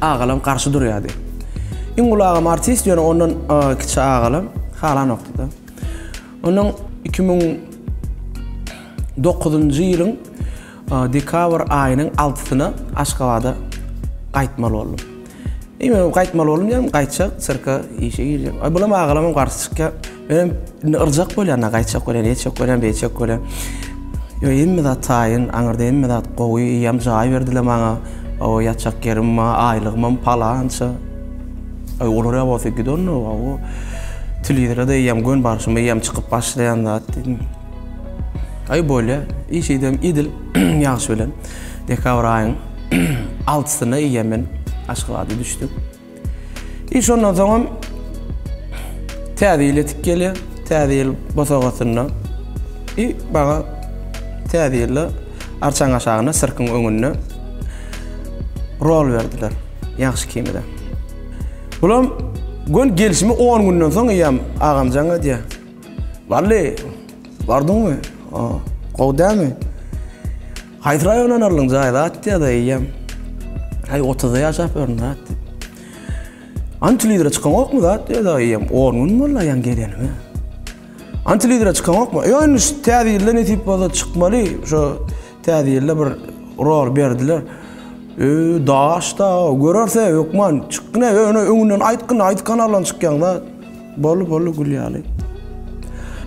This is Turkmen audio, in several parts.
Agalam garşy durýardy. Iň uly agam artist, ýöne ondan kiçi agalam halanokdy-da. Onuň iki müň dokuzynjy ýylyň dekabr aýynyň altysyna Aşgabada gaýtmaly boldum. Eý, men gaýtmaly boldum diýýän, gaýtjak, sirka işe girjek. Bulam agalamam garşy çykýar. Men indi yrjak bolýan-a, gaýtjak bolýan, eýtjek bolýan, beýtjek bolýan. Ýok, hemme zat taýyn, aňyrda hemme zat gowy, eýýäm jaý berdiler maňa. Hawa, ýatjak ýerim bar, aýlygymam palança. Aý, olar ýa bolsa gidernok, hawa. Telewizora-da eýýäm gön barşym, eýýäm çykyp başlaýan zat diýdim. Aý, bolýa, iş edem edil, ýagyş bilen. Dekabr aýyň altysyna eýýäm men Aşgabada düşdüm. Iş ondan soňam Täze ýyl ýetip gelýär. Täze ýyl bosagasynda i maňa Täze ýylda arçaň aşagynda sirkiň öňünde rol berdiler. Ýagşy kimide. Bulam gön gelşimi 10 günden soň eýýäm agamjan edýär. Wally, bardyňmy? Gowy dälmi? Haýsy raýona ynarlyň jaý zat ýa-da eýýäm Aý otuzda ýaşap ýörün zat diýip. Antilidre çykaňokmy zat ýa-da eýýäm on gün boldy aýaň geleniňe. Antilidre çykaňokmy? Ýok indi şu täze ýylda nesip bolsa çykmaly. Şo täze ýylda bir rol berdiler. Öý daş-da görerse hökman çykgyn-ä öňünden aýtgyn aýdyp kanaldan çykýaň zat. Bolly bolly gül ýaly.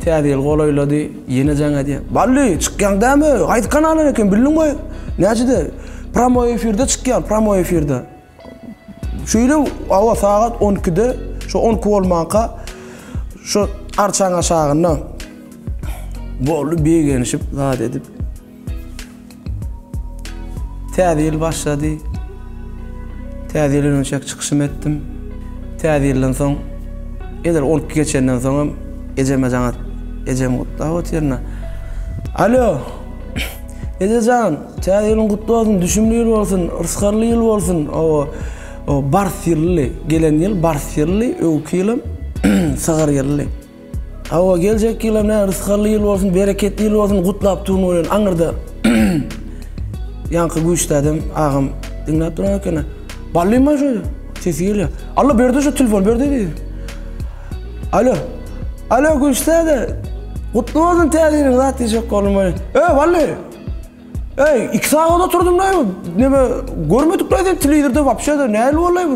Täze ýyl golaýlady, ýene jaň edýän. Bally, çykýaň dämi? Haýsy kanalan eken, bildiň goý? Näçede? Pramoý efirde çykýan, pramoý efirde. Şeýle, hawa, sagat on ikide, şo on iki bolmanka, şo arçaň aşagynda. Bolly, begenişip, zat edip. Täze ýyl başlady. Täze ýyl önümçäk çykyşym etdim. Täze ýyldan soň, edil on iki geçenden soňam ejeme jaňa ejem gutlap otyrna. Alo! Eje jan, täze ýylyň gutly bolsun, düşümli ýyl bolsun, rysgarly ýyl bolsun. Oba, o bars ýylly, gelen ýyl bars ýylly, öwki ýylam sygyr ýylly. Hawa geljek ýylam näme rysgally ýyl bolsun bereketli ýyl bolsun gutlap duryn oýun aňyrda ýaňky güýçli adam agam diňläp duran ekeni Bally maý şeýle sesi gelýär Alla berdi şu telefon berdi diýdi Alo Alo güýçli ede gutly bolsun täze ýylyň zat diýjek boldum maý Öý Bally Öý iki sagat oturdym näme görmedik nädip telewizorda wapşe nähili boldy bu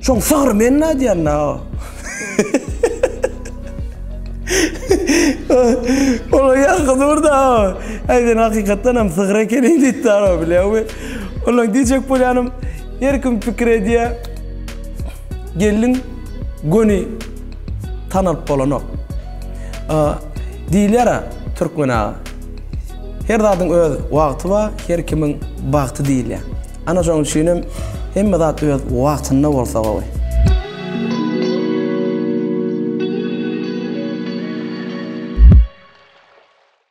Şoň sygyr men nädýän na. Ola ýaňky durda. Aýden hakykatdan hem sygyr ekeni diýip dara bilýämi? Ola diýjek bolýanym her kim pikir edýä. Gelin göni tanalyp bolanok. Diýilýär türkmen aga. Her zadyň öz wagty bar, her kimiň bagty diýilýär. Ana şoň üçinem hemme zat öz wagtynda bolsa gowy.